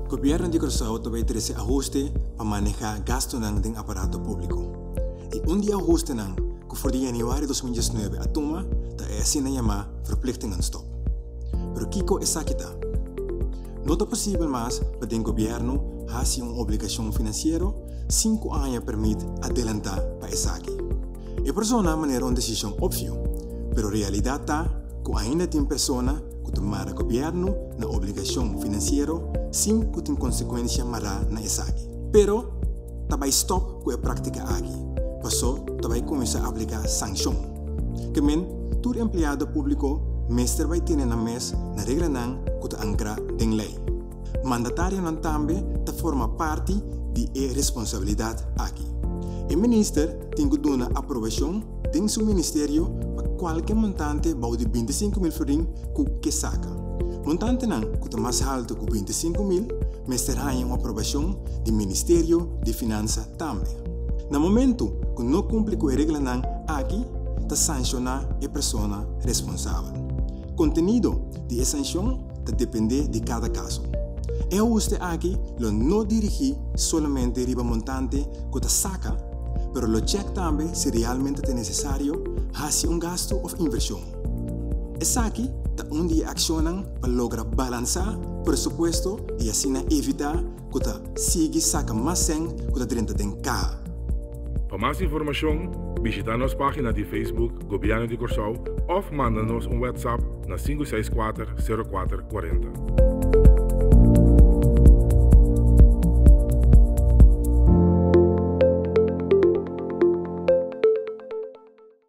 Gobièrnu di Kòrsou ta bai trese ahuste pa manehá gastunan den aparato públiko. I un di e ahustenan ku for di yanüari dos mil diesnuebe a tuma ta e asina yamá Verplichtingenstop. Pero kiko esaki ta? No ta posibel mas pa den gobièrnu hasi un obligashon finansiero sinku aña permit adelantá pa esaki. E persona a manera un desishon opsio, pero realidat ta ku ainda tin persona ku ta mara gobièrnu na obligashon finansiero sin ku tin konsekuensia mará na esaki. Pero ta bai stòp ku e práktika aki pasó ta bai kuminsá apliká sanshon. Ke men, tur empleado públiko mester bai tene nan mes na reglanan ku ta ankrá den lei. Mandatarionan tambe ta forma parti di e responsabilidat aki. E minister tin ku duna aprobashon den su ministerio pa kualke montante bou di binti sinku mil florin ku ke saka. Montantenan ku ta mas haltu ku binti sinku mil mester haña un aprobashon di ministerio di finansa tambe. Na momentu ku no kumpli ku e reglanan aki ta sanshoná e persona responsabel. Kontenido di e sanshon ta dependé di kada kaso. E ahuste aki lo no dirigí solamente riba montante ku ta saka, pero lo chèk tambe si realmente ta nesesario hasi un gastu òf invershon. Esaki ta un di e akshonnan pa logra balansá presupuesto i asina evitá ku ta sigui saka mas sèn ku ta drenta den kaha. Pa mas informashon, bishitá nos página di Facebook Gobièrnu di Kòrsou òf manda nos un wètsap na sinku seis kuater sero kuater kuarenta.